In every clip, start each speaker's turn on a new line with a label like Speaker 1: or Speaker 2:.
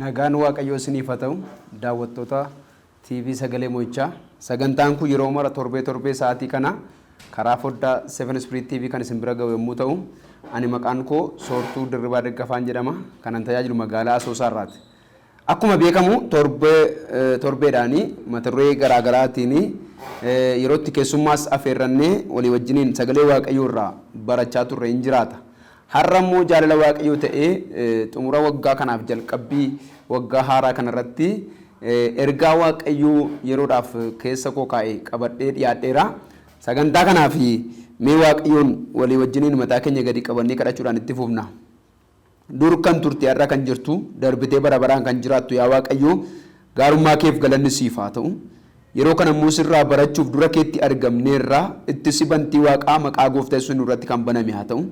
Speaker 1: Nagaan Waaqayyoo isiniif haa ta'u daawwattoota TV Sagalee Mo'ichaa. Sagantaan kun yeroo mara torbee torbee sa'aatii kana karaa foddaa Seven Spirit TV kan isin bira ga'u yommuu ta'u, ani maqaan koo Soortuu Dirribaa Daggafaan jedhama. Kanan tajaajilu magaalaa Asoosaa irraati. Akkuma beekamu torbee torbeedhaan mata duree garaa garaatiin yeroo itti keessummaas afeerrannee walii wajjiniin sagalee Waaqayyoo irraa barachaa turre in jiraata. Har'a immoo jaalala Waaqayyoo ta'ee xumura waggaa kanaaf jalqabbii waggaa haaraa kana irratti ergaa Waaqayyoo yeroodhaaf keessa koo kaa'e qabadhee dhiyaadheera. Sagantaa kanaaf mee Waaqayyoon walii wajjiniin mataa keenya gadi qabannee kadhachuudhaan itti fufna. Dur kan turte har'a kan jirtu, darbitee bara baraan kan jiraattu yaa Waaqayyo, gaarummaa keef galanni siif haa ta'u. Yeroo kana immoo sirraa barachuuf dura keetti argamneerra, ittisi bantii Waaqaa maqaa Gooftaa Yesuusiin nurratti kan baname haa ta'u.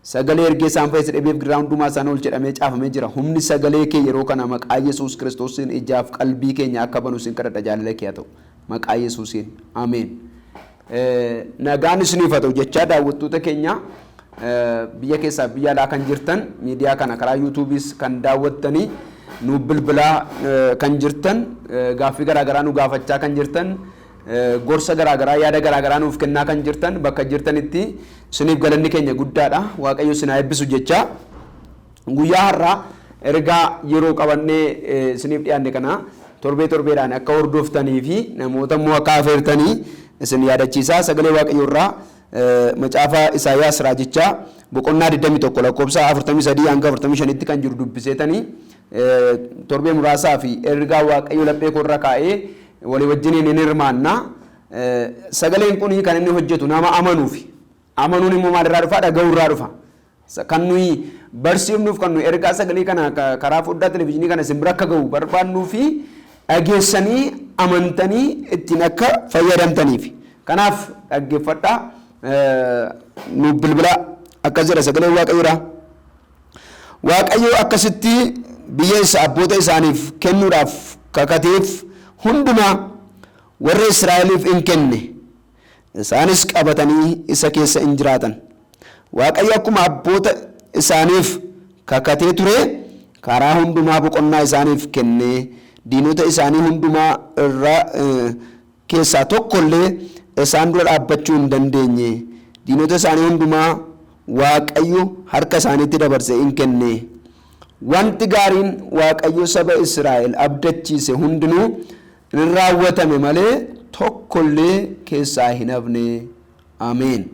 Speaker 1: Sagalee ergee isaan fayyise dhibee fi gidiraa hundumaa isaan oolche jedhamee caafamee jira. Humni sagalee kee yeroo kana maqaa Yesuus Kiristoosiin ijaaf qalbii keenya akka banu sin kadhadha jaalala kee haa ta'u. Maqaa Yesuusiin. Ameen. Nagaan isiniif haa ta'u jechaa daawwattoota keenya biyya keessaa fi biyya alaa kan jirtan miidiyaa kana karaa yuutuubiis kan daawwattanii nuuf bilbilaa kan jirtan gaaffii garaagaraa nu gaafachaa kan jirtan gorsa garaagaraa yaada garaagaraa nuuf kennaa kan jirtan bakka jirtanitti isiniif galanni keenya guddaadha waaqayyo isin haa eebbisu jechaa Guyyaa har'aa ergaa yeroo qabannee isiniif dhiyaanne kana torbee torbeedhaan akka hordoftanii fi namoota immoo akka afeertanii isin yaadachiisaa sagalee waaqayyoo irraa macaafa Isaayaas raajichaa boqonnaa 21 lakkoofsa 43 hanga 45tti kan jiru dubbiseetanii torbee muraasaa fi ergaa waaqayyoo laphee koo irra kaa'ee walii wajjiniin hin hirmaanna. Sagaleen kun kan inni hojjetu nama amanuufi. Amanuun immoo maalirraa dhufa? Dhaga'uu irraa dhufa. Sa kan nuyi barsiifnuuf kan nuyi ergaa sagalee kana ka- karaa foddaa televizyiinii kana isin bira akka ga'u barbaadnuu fi dhageessanii amantanii ittiin akka fayyadamtaniif. Kanaaf dhaggeeffadhaa eh, nuuf bilbilaa akkas jedha sagaleen waaqayyoodha. Waaqayyo akkasitti biyya isa abboota isaaniif kennuudhaaf kakateef hundumaa warra Israa'eliif in kenne. Isaanis qabatanii isa keessa in jiraatan. Waaqayyo akkuma abboota isaaniif kakatee ture karaa hundumaa boqonnaa isaaniif kenne, diinota isaanii hundumaa irra keessaa tokko illee isaan dura dhaabbachuu hin dandeenye. Diinota isaanii hundumaa Waaqayyo harka isaaniitti dabarsee in kenne. Wanti gaariin Waaqayyo saba Israa'el abdachiise hundinuu hin raawwatame malee tokkollee keessaa hin hafne. Ameen.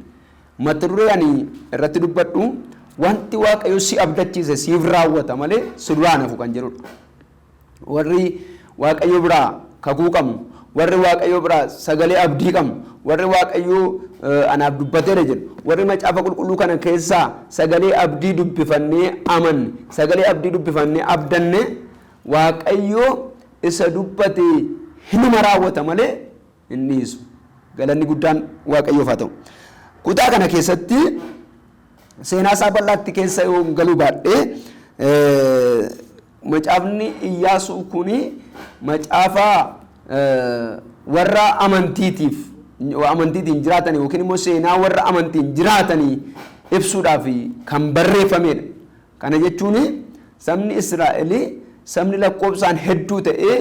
Speaker 1: Mata duree ani irratti dubbadhu wanti Waaqayyo si abdachiise siif raawwata malee si duraa hin hafu kan jedhudha. Warri Waaqayyo biraa kakuu qabnu, warri Waaqayyo biraa sagalee abdii qabnu, warri Waaqayyo anaaf dubbateera jedhu, warri macaafa qulqulluu kana keessaa sagalee abdii dubbifannee amanne, sagalee abdii dubbifannee abdanne Waaqayyo isa dubbate hinuma raawwata malee hin dhiisu. Galanni guddaan Waaqayyoof haa ta'u. Kutaa kana keessatti seenaa isaa bal'aatti keessa yoon galuu baadhe macaafni Iyyaasuu kun macaafa warra amantiitiif amantiitiin jiraatan yookiin immoo seenaa warra amantiin jiraatanii ibsuudhaaf kan barreeffamedha. Kana jechuun sabni Israa'el sabni lakkoobsaan hedduu ta'e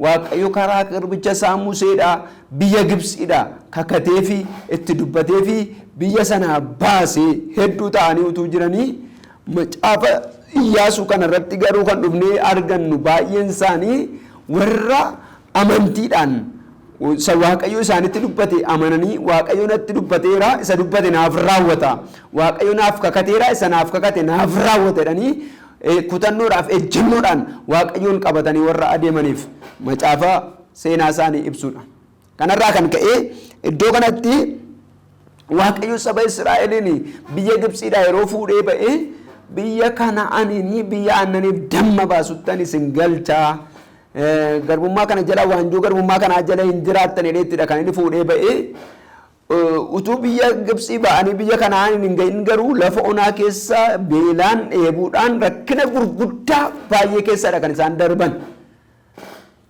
Speaker 1: Waaqayyo karaa garbicha isaa Museedhaa biyya Gibtsiidhaa kakateefi itti dubbateefi biyya sanaa baase hedduu ta'anii utuu jiranii macaafa Iyyaasuu kanarratti garuu kan dhufnee argannu baay'een isaanii warra Amantiidhaan isa Waaqayyo isaanitti dubbate amananii Waaqayyo natti dubbateera isa dubbate naaf raawwata. Waaqayyo naaf kakateera isa naaf kakate naaf raawwata jedhanii eh, kutannoodhaaf ejjennoodhaan Waaqayyoon qabatanii warra adeemaniif macaafa seenaa isaanii ibsuudha. Kanarraa kan ka'e iddoo kanatti Waaqayyo saba Israa'eliin biyya Gibsiidhaa yeroo fuudhee ba'e biyya Kana'aaniin biyya aannaniif damma baasuttan isin galchaa garbummaa kana jala waanjoo garbummaa kanaa jala hin jiraattan jedheettidha kan inni fuudhee ba'e. Utuu biyya Gibsii ba'anii biyya Kana'aaniin hin ga'in garuu lafa onaa keessa beelaan dheebuudhaan rakkina gurguddaa baay'ee keessadha kan isaan darban.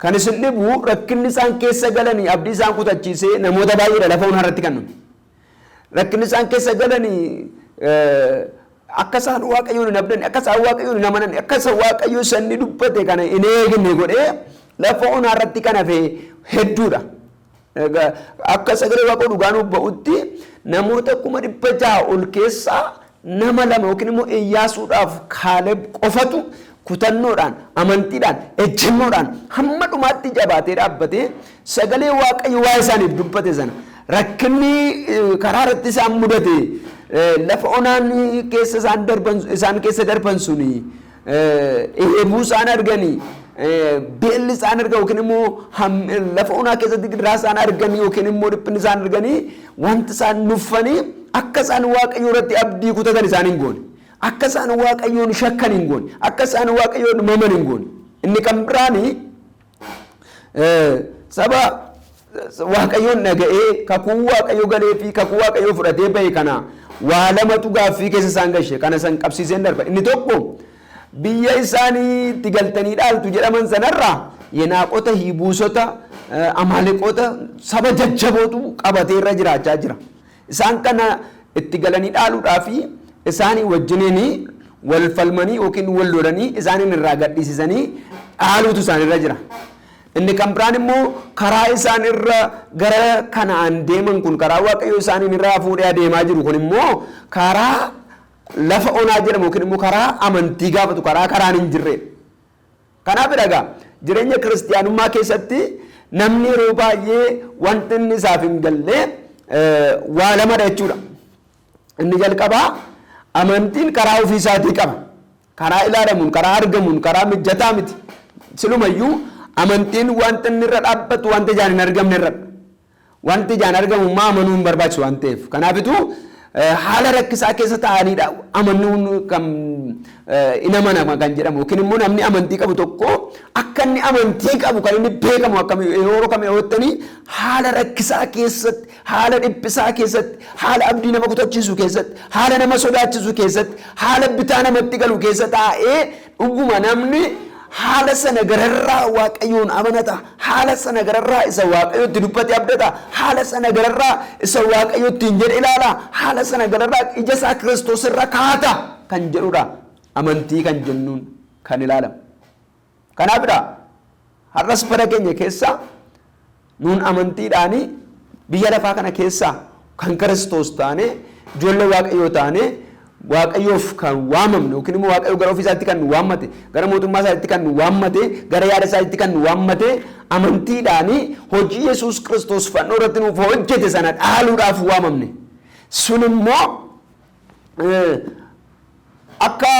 Speaker 1: Kan isin dhibu rakkinni isaan keessa galanii abdii isaan kutachiisee namoota baay'eedha lafa onaa irratti kan nuti. Rakkinni isaan keessa galanii akka isaan waaqayyoon hin abdanne akka isaan waaqayyoon hin amananne akka isa waaqayyo sanni dubbate kana hin eegne godhee lafa onaa irratti kan hafe hedduudha. Akka sagalee Waaqayyoo dhugaa nuuf ba'utti namoota kuma dhibba jaha ol keessaa nama lama yookiin immoo Iyyaasuudhaaf Kaaleb qofatu kutannoodhaan, amantiidhaan, ejjennoodhaan hamma dhumaatti jabaatee dhaabbatee sagalee Waaqayyo waa'ee isaaniif dubbate sana rakkinni karaa irratti isaan mudate lafa onaan keessa isaan darban isaan keessa darban suni dheebuu isaan arganii beelli isaan argan yookiin immoo lafa onaa keessatti gidiraa isaan argan yookiin immoo dhiphinni isaan arganii wanti isaan nuffanii akka isaan waaqayyoo irratti abdii kutatan isaan hin goone. Akka isaan waaqayyoon shakkan hin goone. Akka isaan waaqayyoon maman hin goone. Inni kan biraanii Saba Waaqayyoon dhaga'ee kakuu Waaqayyo galee fi kakuu Waaqayyo fudhatee bahe kana waa lamatu gaaffii keessa isaan gashe kana san qabsiiseen darba. Inni tokko biyya isaanii itti galtanii dhaaltu jedhaman sanarraa yenaaqota, hiibuusota, amaaleqota saba jajjabootu qabatee irra jiraachaa jira. Isaan kana itti galanii dhaaluudhaa fi isaanii wajjiniin wal falmanii yookiin wal lolanii isaaniin irraa gadhiisisanii dhaaluutu isaanirra jira. Inni kan biraan immoo karaa isaan irra gara kanaan deeman kun karaa waaqayyo isaaniin irraa fuudhee adeemaa jiru kun immoo karaa lafa onaa jedhamu yookiin immoo karaa amantii gaafatu karaa karaan hin jirredha. Kanaafidha egaa jireenya kiristiyaanummaa keessatti namni yeroo baay'ee wanti inni isaaf hin galle waa lamadha jechuudha. Inni jalqabaa amantiin karaa ofii isaatii qaba. Karaa ilaalamuun, karaa argamuun, karaa mijataa miti. Silumayyuu amantiin wanti inni irra dhaabbatu wanta ijaan hin argamne irradha. Wanti ijaan argamu immoo amanuu hin barbaachisu waan ta'eef. Kanaafituu haala rakkisaa keessa taa'aniidha amanuun kan hin amanama kan jedhamu yookiin immoo namni amantii qabu tokko akka inni amantii qabu kan inni beekamu akkam yeroo kam yoottanii haala rakkisaa keessatti haala dhiphisaa keessatti haala abdii nama kutachiisu keessatti haala nama sodaachisu keessatti haala bitaa namatti galu keessa taa'ee Dhuguma namni haala sana gararraa Waaqayyoon amanata, haala sana gararraa isa Waaqayyo itti dubbate abdata, haala sana gararraa isa Waaqayyo ittiin jedhe ilaala, haala sana gararraa ija isaa Kiristoos irra kaata kan jedhudha. Amantii kan jennuun kan ilaalamu. Kanaafidha har'as bara keenya keessa Nuun amantiidhaan biyya lafaa kana keessaa kan Kiristoos taanee, ijoollee Waaqayyoo taanee, Waaqayyoof kan waamamne yookiin immoo Waaqayyo gara ofii isaatti kan nu waammate, gara mootummaa isaatti kan nu waammate, gara yaada isaatti kan nu waammate, amantiidhaan hojii Yesuus Kiristoos fannoo irratti nuuf hojjete sana dhaaluudhaaf waamamne. Sun immoo akka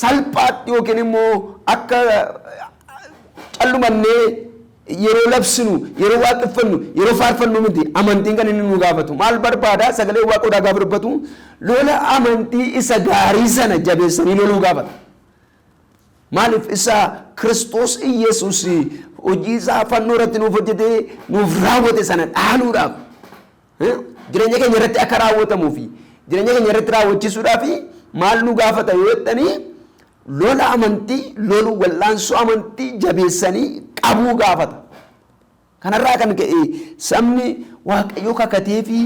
Speaker 1: salphaatti yookiin immoo akka callumannee yeroo labsinu, yeroo waaqeffannu, yeroo faarfannu miti amantiin kan inni nu gaafatu. Maal barbaada? Sagalee waaqoodhaa gaafa dubbatu lola amantii isa gaarii sana jabeessanii loluu gaafata. Maaliif isa Kiristoos Iyyasuus hojii isaa fannoo irratti nuuf hojjetee nuuf raawwate sana dhaaluudhaaf Jireenya keenya irratti akka raawwatamuu fi jireenya keenya irratti raawwachiisuudhaa fi maal nu gaafata yoo jettanii lola amantii lolu wal'aansoo amantii jabeessanii qabuu gaafata. Kanarraa kan ka'e sabni waaqayyo kakatee fi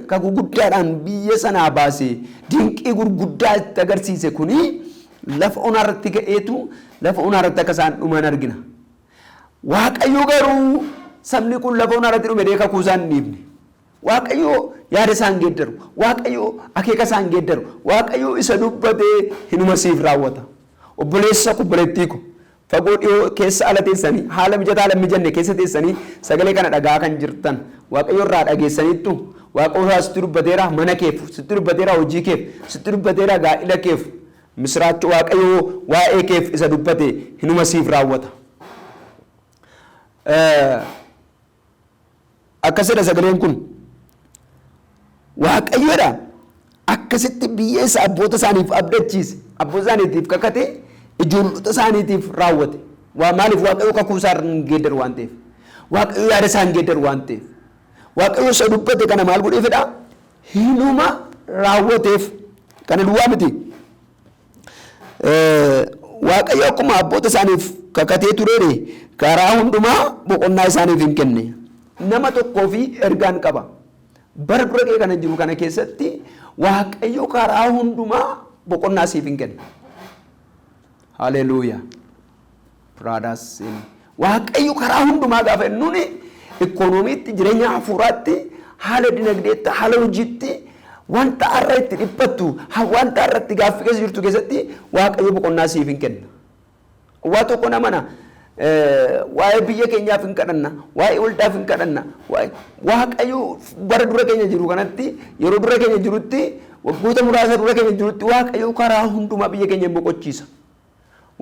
Speaker 1: kakuu guddaadhaan biyya sanaa baase dinqii gurguddaa itti agarsiise kuni lafa onaa irratti ga'eetu lafa onaa irratti akka isaan dhuman argina. Waaqayyo garuu sabni kun lafa onaa irratti dhume dee kakuu isaa hin dhiifne. Waaqayyo yaada isaa hin geeddaru. Waaqayyo akeeka isaa hin geeddaru. Waaqayyo isa dubbatee hinuma siif raawwata. Obboleessa ko obboleettii ko fagoo dhiyoo keessa ala teessanii haala mijataa ala hin mijanne keessa teessanii sagalee kana dhagaa kan jirtan Waaqayyo irraa dhageessaniittu Waaqayyo irraa sitti dubbateera mana keef sitti dubbateera hojii keef sitti dubbateera gaa'ila keef Misiraacho Waaqayyo waa'ee keef isa dubbate hinuma siif raawwata. Akkas jedha sagaleen kun. Waaqayyo jedha akkasitti biyya isa abboota isaaniif abdachiise, abboota isaaniitiif kakate, ijoollota isaaniitiif raawwate. Waa maaliif Waaqayyo kakuu isaa hin geeddaru waan ta'eef. Waaqayyo yaada isaa hin geeddaru waan ta'eef. Waaqayyo isa dubbate kana maal godhee fedha? hinuma raawwateef. Kana duwwaa miti. Waaqayyo akkuma abboota isaaniif kakatee tureere karaa hundumaa boqonnaa isaaniif hin kenne. Nama tokkoo fi ergaan qaba. Bara dura kee kana jiru kana keessatti Waaqayyo karaa hundumaa boqonnaa siif hin kenna. Haleluuyaa. Pradas in Waaqayyo karaa hundumaa gaafa jennuun ikoonomiitti, jireenya hafuuraatti, haala dinagdeetti, haala hojiitti, wanta har'a itti dhiphattu, ha- wanta har'a itti gaaffii keessa jirtu keessatti Waaqayyo boqonnaa siif hin kenna. Waa tokko na mana eh, waa'ee biyya keenyaaf hin kadhanna, waa'ee waldaaf hin kadhanna, waa'ee- Waaqayyo bara dura keenya jiru kanatti, yeroo dura keenya jirutti, waggoota muraasa dura keenya jirutti Waaqayyo karaa hundumaa biyya keenya hin boqochiisa.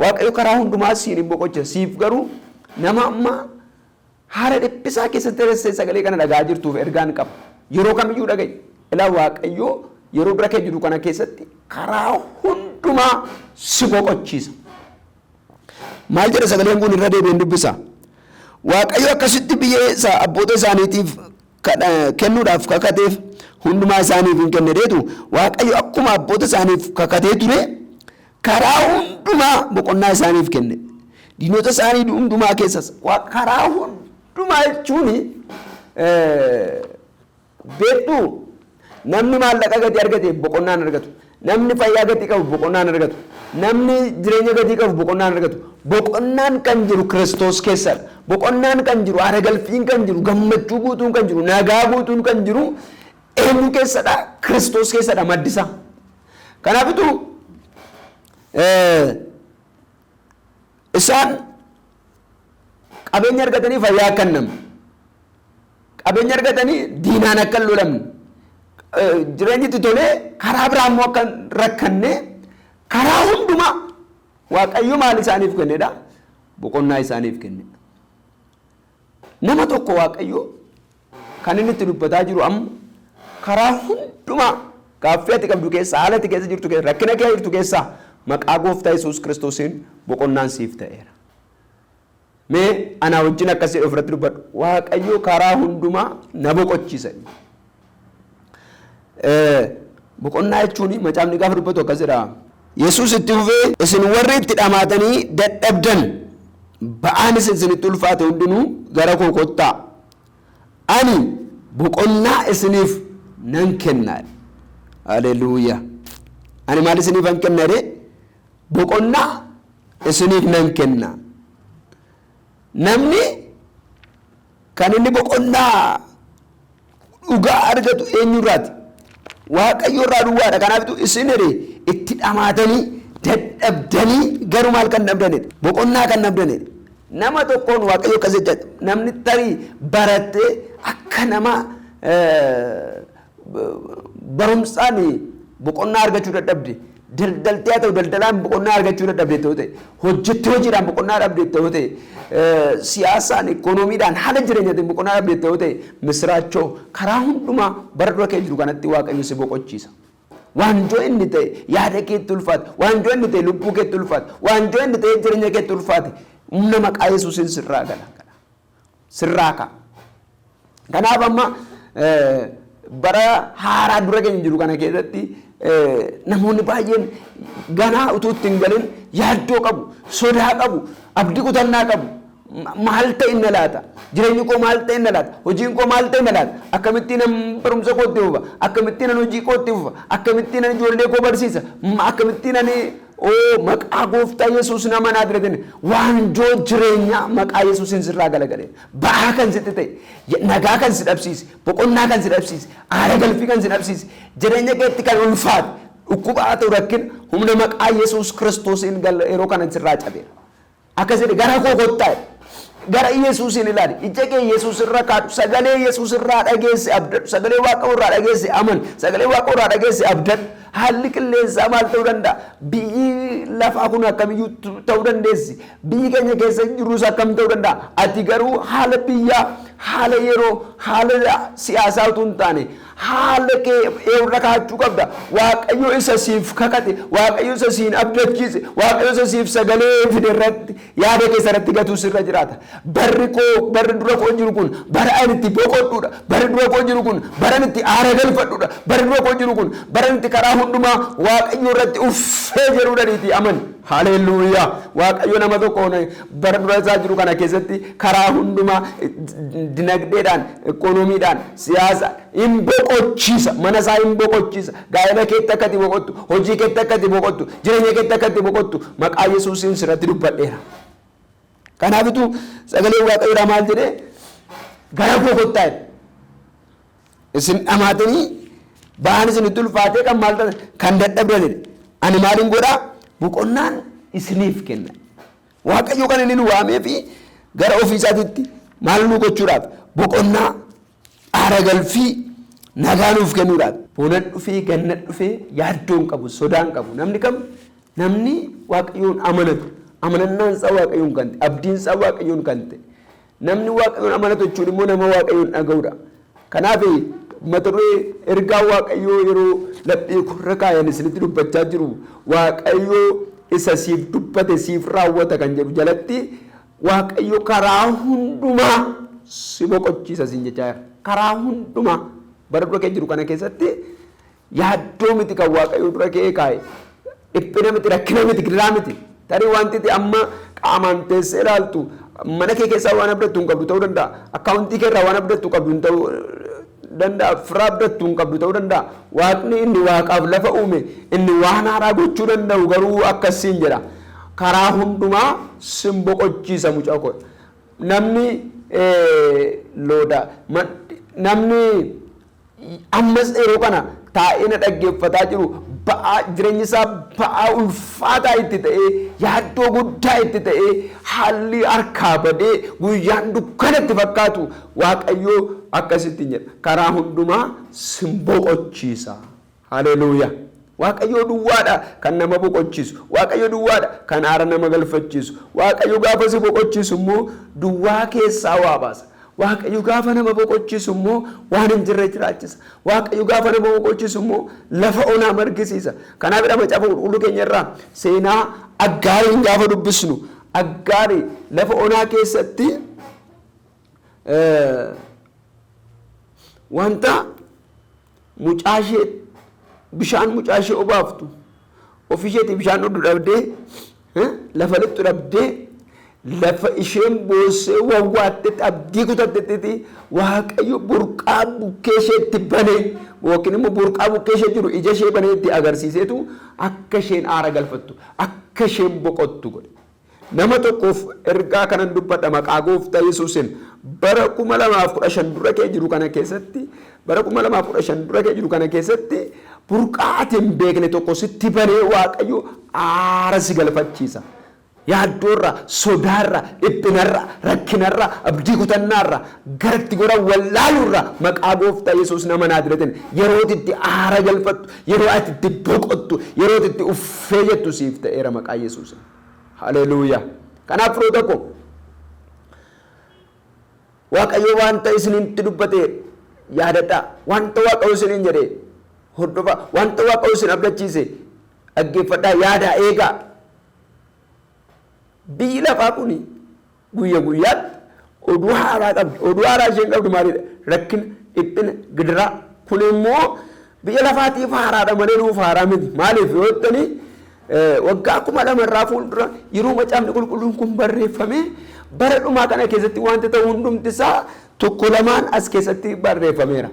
Speaker 1: Waaqayyo karaa hundumaa siin hin boqocha. Siif garuu nama amma haala dhiphisaa keessatti teessee sagalee kana dhagaa jirtuuf ergaan qaba. Yeroo kamiyyuu dhaga'i. Ilaa Waaqayyo yeroo bira kee jiru kana keessatti karaa hundumaa si boqochiisa. Maal jedha sagaleen kun irra deebi'een dubbisa. Waaqayyo akkasitti biyya isaa abboota isaaniitiif kennuudhaaf kakateef hundumaa isaaniif in kenne jedheetu Waaqayyo akkuma abboota isaaniif kakatee ture karaa hundumaa boqonnaa isaaniif kenne. Diinota isaanii hundumaa keessas Waaqa karaa hundumaa jechuun eh, beektuu Namni maallaqa gatii argate boqonnaa hin argatu. Namni fayyaa gatii qabu boqonnaa hin argatu. Namni jireenya gatii qabu boqonnaa hin argatu. Boqonnaan kan jiru Kiristoos keessadha. Boqonnaan kan jiru, aaragalfiin kan jiru, gammachuu guutuun kan jiru, nagaa guutuun kan jiru eenyu keessadha? Kiristoos keessadha maddisaa. Kanaafitu Isaan qabeenya argatanii fayyaa akka hin dhabne, qabeenya argatanii diinaan akka hin lolamne, jireenyi itti tolee karaa biraa immoo akka hin rakkanne karaa hundumaa Waaqayyo maal isaaniif kennedha? Boqonnaa isaaniif kennedha. Nama tokko Waaqayyo Kan inni itti dubbataa jiru amma karaa hundumaa gaaffii ati qabdu keessaa, haala ati keessa jirtu keessaa, rakkina keessa jirtu keessaa maqaa gooftaa Yesuus Kiristoosiin boqonnaan siif ta'eera. Mee anaa wajjin akkas jedhee ofirratti dubbadhu. Waaqayyo karaa hundumaa na boqochiisa. Boqonnaa jechuun macaafni gaafa dubbatu akkas jedha. Yesuus itti fufee isin warri itti dhamaatanii dadhabdan ba'aan isin isinitti ulfaate hundinuu gara koo kottaa Ani boqonnaa isiniif nan kenna. Haleluuyaa! Ani maal isiniifan kenna jedhee? Boqonnaa isiniif nan kenna. Namni kan inni boqonnaa dhugaa argatu eenyurraati? Waaqayyo irraa duwwaadha. Kanaafitu isin jedhe itti dhamaatanii dadhabdanii garuu maal kan dhabdanidha? Boqonnaa kan dhabdanidha. Nama tokkoon Waaqayyo akkas jechaa jira. Namni tarii barattee akka nama barumsaan boqonnaa argachuu dadhabde daldaltee haa ta'u daldalaan boqonnaa argachuu dadhabde ta'u ta'e hojjettee hojiidhaan boqonnaa dhabde ta'u ta'e siyaasaan ikoonomiidhaan haala jireenyaatiin boqonnaa dhabde ta'u ta'e misiraachoo karaa hundumaa bara dura kee jiru kanatti waaqayyo si boqochiisa. Waanjoo inni ta'e yaada keetti ulfaate. Waanjoo inni ta'e lubbuu keetti ulfaate. Waanjoo inni ta'e jireenya keetti ulfaate. Humna maqaa Yesuusiin sirraa gala. Sirraa ka'a. Kanaaf amma bara haaraa dura keenya jiru kana keessatti namoonni baay'een ganaa utuu itti hin galin yaaddoo qabu, sodaa qabu, abdii kutannaa qabu. Maal ta'inna laata? Jireenyi koo maal ta'inna laata? Hojiin koo maal ta'inna laata? Akkamittiin an barumsa koo itti fufa? Akkamittiin an hojii koo itti fufa? Akkamittiin an ijoollee koo barsiisa? Akkamittiin ani oo maqaa gooftaa Yesuus nama naa bira genne waanjoo jireenyaa maqaa Yesuusiin sirraa galagale ba'aa kan sitti ta'e nagaa kan si dhabsiise boqonnaa kan si dhabsiise aara galfii kan si dhabsiise jireenya keetti kan ulfaate dhukkuba haa ta'u rakkina humna maqaa Yesuus kiristoosiin yeroo kana sirraa cabeera. Akkas jedhe gara koo kottaa jedhe. Gara Yesuusiin ilaali. Ija kee Yesuus irra kaadhu. Sagalee Yesuus irraa dhageesse abdadhu. Sagalee Waaqa irraa dhageesse amani. Sagalee Waaqa irraa dhageesse abdadhu. Haalli qilleensaa maal ta'uu danda'a? Biyyi lafaa kun akkamiyyuu ta'uu dandeessi. Biyyi keenya keessa jirus akkam ta'uu danda'a? Ati garuu haala biyyaa, haala yeroo, haala siyaasaa utuu hin taane Haala kee eewrra kaa'achuu qabda. Waaqayyo isa siif kakate, Waaqayyo isa siin abdachiise, Waaqayyo isa siif sagalee fide irratti yaada kee isarratti gatuu sirra jiraata. Barri koo, barri dura koo jiru kun bara ani itti boqodhuudha. Barri dura koo jiru kun bara ani itti aara galfadhuudha. Barri dura koo jiru kun bara ani itti karaa hundumaa Waaqayyo irratti uffee jedhuudhaniitii amani. Haleeluuyaa! Waaqayyo nama tokko bara dura isaa jiru kana keessatti karaa hundumaa dinagdeedhaan, ikoonomiidhaan, Siyaasa in boqochiisa. Mana isaa in boqochiisa. Gaa'ela keetti akka itti boqottu, hojii keetti akka itti boqottu, jireenya keetti akka itti boqottu maqaa Yesuusiin sirratti dubbadheera. Kanaafitu sagaleen Waaqayyoodhaa maal jedhee gara koo kottaa jedhe. Isin dhamaatanii ba'aan isinitti ulfaatee kan maal ta'an kan dadhabdan jedhe. Ani maalin godhaa boqonnaan isiniif kenna. Waaqayyo kan inni nu waamee fi gara ofii isaatitti maal nu gochuudhaaf? Boqonnaa, aara galfii, nagaa nuuf kennuudhaaf. Bonan dhufee, ganna dhufee yaaddoo hin qabu, sodaa hin qabu. Namni kam? Namni Waaqayyoon amanatu, amanannaan isaa Waaqayyoon kan ta'e, abdiin isaa Waaqayyoon kan ta'e, Namni Waaqayyoon amanatu jechuun immoo nama Waaqayyoon dhaga'udha. Kanaaf mata duree ergaa Waaqayyoo yeroo laphee korra kaayan isinitti dubbachaa jiru Waaqayyoo isa siif dubbate siif raawwata kan jedhu jalatti Waaqayyo karaa hundumaa si boqochiisa siin jechaa jira. Karaa hundumaa bara dura kee jiru kana keessatti Yaaddoo miti kan Waaqayyo dura ka'ee kaa'e. Dhiphina miti, rakkina miti, gidiraa miti. Tarii wanti ati amma qaamaan teessee ilaaltu mana kee keessaa waan abdattu hin qabdu ta'uu danda'a. Akkaawuntii kee irraa waan abdattu qabdu hin ta'uu danda'a. Fira abdattu hin qabdu ta'uu danda'a. Waaqni inni waaqaaf lafa uume inni waan haaraa gochuu danda'u garuu akkas siin jedha. Karaa hundumaa sin boqochiisa mucaa koo. Namni eh, looda ma- namni Ammas yeroo kana taa'ee na dhaggeeffataa jiru ba'aa jireenyi isaa ba'aa ulfaataa itti ta'ee yaaddoo guddaa itti ta'ee haalli harkaa badee guyyaan dukkana itti fakkaatu waaqayyoo akkasittiin jedha karaa hundumaa sin boqochiisa. Haleluuyaa! Waaqayyoo duwwaa dha kan nama boqochiisu. Waaqayyo duwwaa dha kan aara nama galfachiisu. Waaqayyo gaafa si boqochiisu immoo duwwaa keessaa waa baasa. Waaqayyo gaafa nama boqochiisu immoo waan hin jirre jiraachisa. Waaqayyo gaafa nama boqochiisu immoo lafa onaa margisiisa. Kanaafidha macaafa qulqulluu keenya irraa seenaa Aggaariin gaafa dubbisnu Aggaari lafa onaa keessatti eh, wanta Mucaashee bishaan mucaashee obaaftu ofisheetii bishaan dhugdu dhabdee lafa lixxu dhabdee lafa isheen boossee wawwaattetti abdii kutattetti waaqayyo burqaa bukkee isheetti banee yookiin immoo burqaa bukkee ishee jiru ija ishee banee itti agarsiiseetu akka isheen aara galfattu akka isheen boqottu godhe. Nama tokkoof ergaa kanan dubbadha maqaa gooftaa yesuusin bara 2015 dura kee jiru kana keessatti bara 2015 dura kee jiru kana keessatti burqaa ati hin beekne tokko sitti banee waaqayyo aara si galfachiisa. Yaaddoorra, sodaarra, dhiphinarra, rakkinarra, abdii kutannaarra, garatti goran wallaaluurra maqaa gooftaa yesuus nama naadiratin yeroo ati itti aara galfattu, yeroo ati itti boqottu, yeroo ati itti uffee jettu siif ta'eera maqaa yesuusin. Haleluuyaa! Kanaaf firoota koo Waaqayyo wanta isinitti dubbate yaadadhaa. Wanta Waaqayyo isiniin jedhe hordofaa. Wanta Waaqayyo isin abdachiise dhaggeeffadhaa yaadaa eegaa. Biyyi lafaa kun Guyya guyyaatti oduu haaraa qabdi. Oduu haaraa isheen qabdu maalidha? Rakkina, dhiphina, gidiraa. Kun immoo biyya lafaatiif haaraadha malee nuuf haaraa miti. Maaliif yoo jettanii waggaa kuma lama irraa fuuldura yeroo macaafni qulqulluun kun barreeffamee bara dhumaa kana keessatti wanti ta'u hundumti isaa tokko lamaan as keessatti barreeffameera.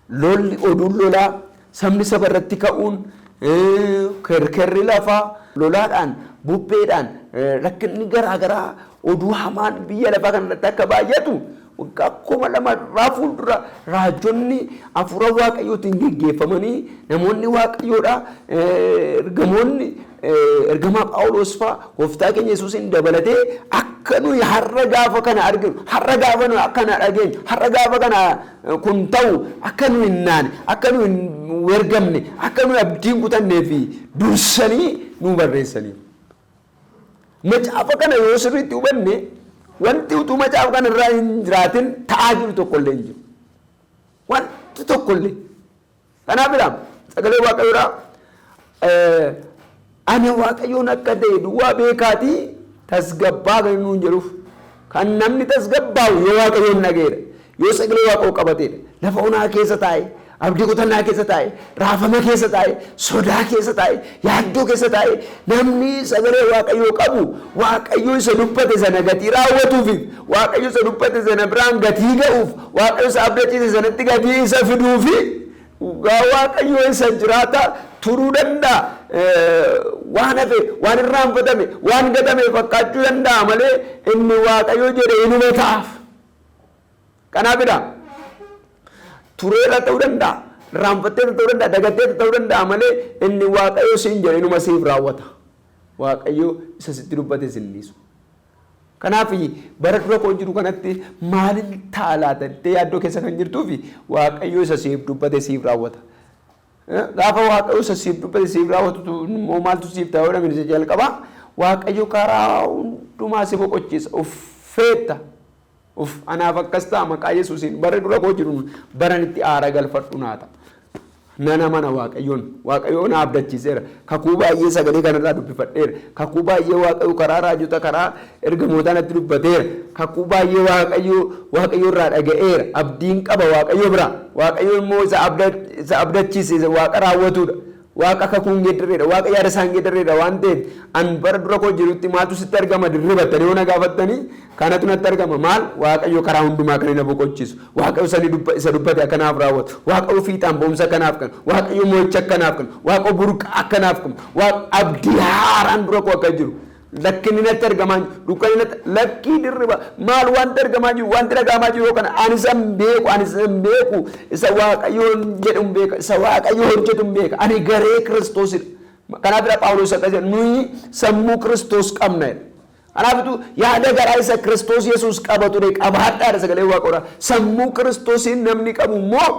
Speaker 1: Lolli oduun lolaa Sabni saba irratti ka'uun, kerkerri lafaa, lolaadhaan, bubbeedhaan, rakkinni garaa garaa, oduu hamaan biyya lafaa kana irratti akka baay'atu waggaa kuma lama irraa fuuldura raajonni hafuura Waaqayyootiin geggeeffamanii namoonni Waaqayyoodha ergamoonni ergamaa Phaawulos faa gooftaa keenya Yesuusiin dabalatee akka nuyi har'a gaafa kana arginu, har'a gaafa nuyi akkana dhageenyu, har'a gaafa kana kun ta'u akka nu hin naane, akka nu hin wergamne, akka nu abdiin kutannee fi dursanii nu barreessaniiru. Macaafa kana yoo sirriitti hubanne wanti utuu macaafa kana irraa hin jiraatin ta'aa jiru tokkollee hin jiru. Wanti tokkollee. Kanaaf ilaam sagalee waaqayyoo dha. Ana waaqayyoon akka ta'e duwwaa beekaatii tasgabbaa kan nuun jedhuuf kan namni tasgabbaa'u yoo waaqayyoon dhaga'eedha. Yoo sagalee waaqayyoo qabateedha. Lafa onaa keessa taa'e abdii kutannaa keessa taa'e raafama keessa taa'e sodaa keessa taa'e Yaaddoo keessa taa'ee namni sagalee Waaqayyoo qabu Waaqayyo isa dubbate sana gatii raawwatuufiif, Waaqayyo isa dubbate sana biraan gatii ga'uuf, Waaqayyo isa abdachiise sanatti gatii isa fiduufi dhugaa Waaqayyoo isa jiraataa turuu danda'a. Waan hafe, waan irraanfatame, waan gatame fakkaachuu danda'a malee inni Waaqayyo jedhe inuma ta'aaf. Kanaa bira tureera ta'uu danda'a, irraanfatteeta ta'uu danda'a, dagatteeta ta'uu danda'a malee inni Waaqayyo siin jedhe inuma siif raawwata. Waaqayyo isa sitti dubbate sin dhiisu. Kanaaf bara dura koo jiru kanatti maalin ta'a laata jettee yaaddoo keessa kan jirtuu fi Waaqayyo isa siif dubbate siif raawwata. Eh, Gaafa Waaqayyo isa siif dubbate siif raawwatu immoo maaltu siif ta'a yoo namni isa jalqabaa Waaqayyo karaa hundumaa si boqochiisa uffeetta. Uff anaaf akkas ta'a maqaa yesuusiin barri dura koo jiru baran itti aara galfadhu naa ta'a. Nan amana waaqayyoon waaqayyoo na abdachiiseera kakuu baay'ee sagalee kanarraa dubbifadheera kakuu baay'ee waaqayyoo karaa raajota karaa ergamootaa natti dubbateera kakuu baay'ee waaqayyoo waaqayyoo irraa dhaga'eera abdiin qaba waaqayyoo biraa waaqayyoo immoo isa abda isa abdachiise isa waaqa raawwatuudha Waaqa kakuu hin geeddarreedha. Waaqa yaada isaa hin geeddarreedha waan ta'eef an bara dura koo jirutti maaltu sitti argama dirribattanii yoo na gaafattanii kanatu natti argama maal waaqayyo karaa hundumaa kan na boqochiisu waaqayyo sani dubba isa dubbate akkanaaf raawwatu waaqayyo fiixaan ba'umsa akkanaaf kan waaqayyo mo'icha akkanaaf kan waaqayyo burqa akkanaaf kan waaqayyo abdii haaraan dura koo akka jiru Lakki inni natti argamaa hin jiru. Dukkanni natti lakkii dirriba maal wanti argamaa hin jiru wanti dhaga'amaa jiru yoo kana ani isa hin beeku ani isa hin beeku isa waaqayyoon jedhu hin beeka isa waaqayyo hojjetu hin beeka ani garee kiristoosidha. Kanaaf dha Phaawulos akkas jedha nuyi sammuu kiristoos qabna jedha. Kanaafitu yaada garaa isa kiristoos yesuus qaba ture qabaadhaadha sagalee waaqoodha. Sammuu kiristoosiin namni qabu immoo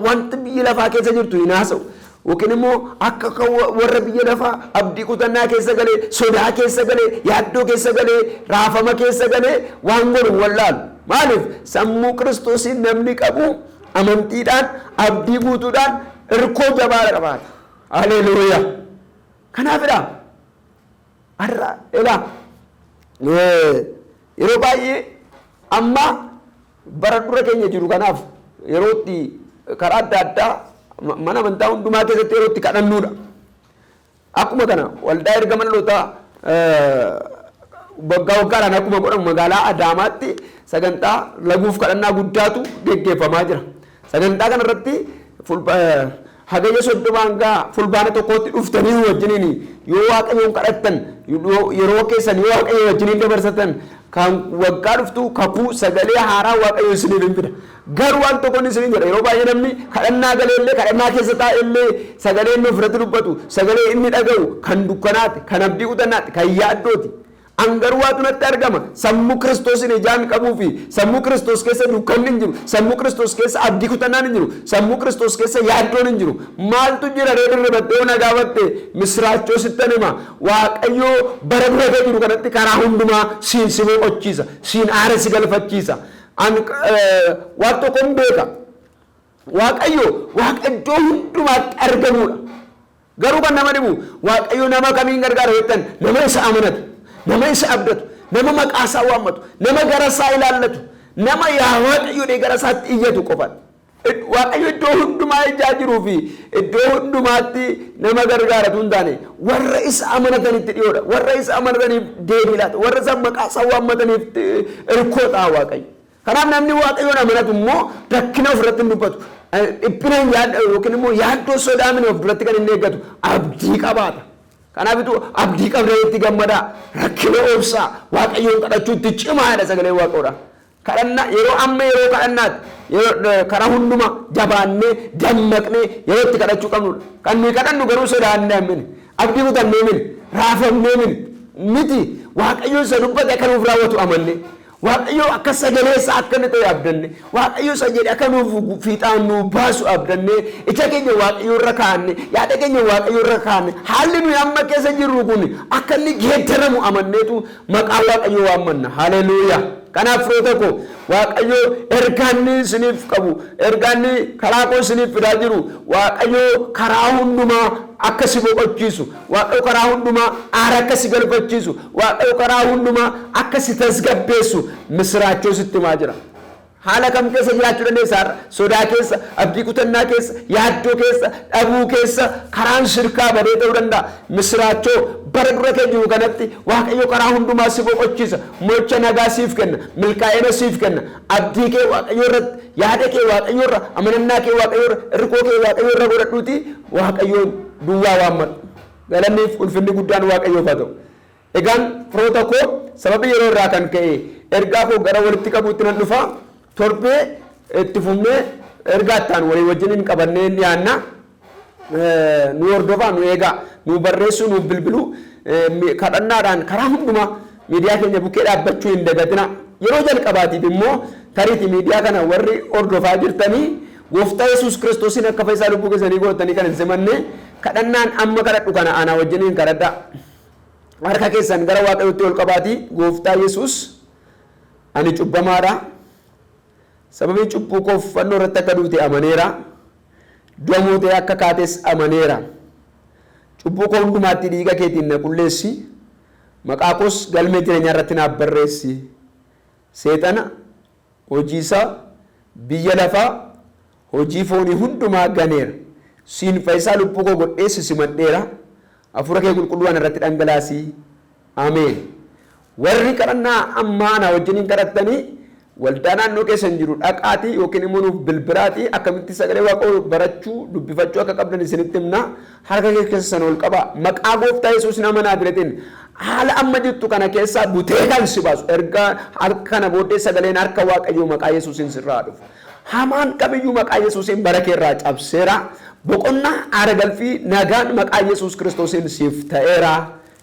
Speaker 1: wanti biyya lafaa keessa jirtu hin haasa'u. Yookiin immoo akka kan warra biyya lafaa abdii kutannaa keessa galee, sodaa keessa galee, yaaddoo keessa galee, raafama keessa galee waan godhu hin wallaalu. Maaliif? Sammuu Kiristoosiin namni qabu amantiidhaan, abdii guutuudhaan, irkoo jabaadha qabaata. Haleeluuyaa! Kanaafidha. Har'a ilaa yeroo baay'ee amma Bara dura keenya jiru kanaaf yeroo itti karaa adda addaa mana amantaa hundumaa keessatti yeroo itti kadhannuudha. Akkuma kana waldaa ergaman lootaa waggaa waggaadhaan akkuma godhamu magaalaa Adaamaatti sagantaa laguuf kadhannaa guddaatu geggeeffamaa jira. Sagantaa kana irratti Hagayya 30 hanga Fulbaana 1tti dhuftanii nu wajjiniin yoo Waaqayyoon kadhattan, yeroo keessan yoo Waaqayyoo wajjiniin dabarsatan, kan waggaa dhuftuu kakuu sagalee haaraa Waaqayyo isiniif hin fida. Garuu waan tokkoon isiniin jedha yeroo baay'ee namni kadhannaa galee illee kadhannaa keessa taa'e illee sagalee inni ofirratti dubbatu sagalee inni dhaga'u kan dukkanaati, kan abdii kutannaati, kan yaaddooti. An garuu waatu natti argama, sammuu Kiristoosin ijaan qabuu fi sammuu Kiristoos keessa dukkanni hin jiru, sammuu Kiristoos keessa abdii kutannaan hin jiru, sammuu Kiristoos keessa yaaddoon hin jiru. Maaltu jira ree dirribattee yoo na gaafatte, misiraachoo sittan hima. Waaqayyo bara dura kee jiru kanatti karaa hundumaa siin si boqochiisa, siin aara si galfachiisa. An waan tokkon beeka. Waaqayyo Waaqa iddoo hundumaatti argamuudha. Garuu kan nama dhibu Waaqayyo nama kamiin gargaara yoo jettan nama isa amanatu, nama isa abdatu, nama maqaa isaa waammatu, nama gara isaa ilaallatu, nama yaa Waaqayyo jedhee gara isaatti iyyatu qofadha. Id- Waaqayyo iddoo hundumaa ijaa jiruu fi iddoo hundumaatti nama gargaaratu hin taane warra isa amanatanitti dhiyoodha. Warra isa amanataniif deebii laata. Warra isa maqaa isaa waammataniif eh, irkoo ta'a Waaqayyo. Kanaaf namni Waaqayyoon amanatu immoo rakkina of irratti hin dubbatu. Dhiphina hin yaadda yookiin immoo yaaddoo sodaa mini of duratti kan inni eeggatu abdii qabaata. Kanaafitu abdii qabdanitti gammadaa, rakkina obsaa, Waaqayyoon kadhachuutti cimaa jedha sagalee Waaqayyoodha. Kadhannaa yeroo amma yeroo kadhannaati. Yeroo karaa hunduma jabaannee dammaqnee yeroo itti kadhachuu qabnudha. Kan nuyi kadhannu garuu sodaannee mini, abdii kutannee mini, raafamnee mini miti. Waaqayyoon isa dubbate akka nuuf raawwatu amannee. Waaqayyoo akka sagalee isaa akka inni ta'e abdanne waaqayyo isa jedhe akka nuuf fiixaan nuu baasu abdanne ija keenya waaqayyo irra kaa'anne yaada keenya waaqayyo irra kaa'anne haalli nuyi amma keessa jirru kun akka inni geeddaramu amanneetu maqaa waaqayyo waammanna haleluuyaa kanaaf firoota koo waaqayyo ergaanni isiniif qabu ergaanni karaa koo isiniif fidaa jiru waaqayyo karaa hundumaa akka si boqochiisu Waaqayyo karaa hundumaa aara akka si galfachiisu, Waaqayyo karaa hundumaa akka si tasgabbeessu misiraachoo sitti himaa jira. Haala kam keessa jiraachuu dandeessa har'a? Sodaa keessa, abdii kutannaa keessa, yaaddoo keessa, dhabuu keessa, karaan sirkaa badee ta'uu danda'a. Misiraachoo bara dura kee jiru kanatti Waaqayyo karaa hundumaa si boqochiisa, mo'icha nagaa siif kenna, milkaa'ina siif kenna, abdii kee Waaqayyo irratti, yaada kee Waaqayyo irra, amanannaa kee Waaqayyo irra, irkoo kee Waaqayyo irra godhadhuutii Waaqayyoon duwwaa waammadhu. Galanniif ulfinni guddaan Waaqayyoof haa ta'u. Egaan firoota koo sababii yeroo irraa kan ka'e ergaa koo gara walitti qabuutti nan dhufa. Torbee itti fufnee ergaa itti aanu walii wajjiniin qabannee hin dhiyaanna. Eh, Nu hordofaa, nu eegaa, nu barreessuu, nu bilbiluu, eh, mi- kadhannaadhaan karaa hundumaa Miidiyaa keenya bukkee dhaabbachuu hin dagatinaa. Yeroo jalqabaatiif immoo tariiti miidiyaa kana warri hordofaa jirtani Gooftaa Yesuus Kiristoosiin akka fayyisaa lubbuu keessanii gootanii kan hin simanne kadhannaan amma kadhadhu kana anaa wajjiniin kadhadhaa. Harka keessan gara Waaqayyootti ol qabaatii Gooftaa Yesuus ani cubbamaadha. Sababii cubbuu koof fannoo irratti akka duute amaneera. Du'a mootee akka kaates amaneera. Cubbuu koo hundumaatti dhiiga keetiin na qulleessi. Maqaa koos galmee jireenyaa irratti naaf barreessi. Seexana, hojii isaa, biyya lafaa, hojii foonii hundumaa ganeera. Siin fayyisaa lubbuu koo godhee si simadheera. Hafuura kee qulqulluu ana irratti dhangalaasi. Ameen. Warri kadhannaa ammaa anaa wajjiniin kadhattanii Waldaa naannoo keessan jiru dhaqaatii yookiin immoo nuuf bilbiraatii akkamitti sagalee waaqayyoo barachuu, dubbifachuu akka qabdan isinitti himna. Harka kee keessa sana ol qabaa. Maqaa gooftaa Yesuus nama naazreetiin haala amma jirtu kana keessaa butee kan si baasu erga harka kana booddee sagaleen harka waaqayyoo maqaa Yesuusiin sirraa dhufu. Hamaan kamiyyuu maqaa Yesuusiin bara kee irraa cabseera. Boqonnaa aara galfii nagaan maqaa Yesuus kiristoosiin siif ta'eera.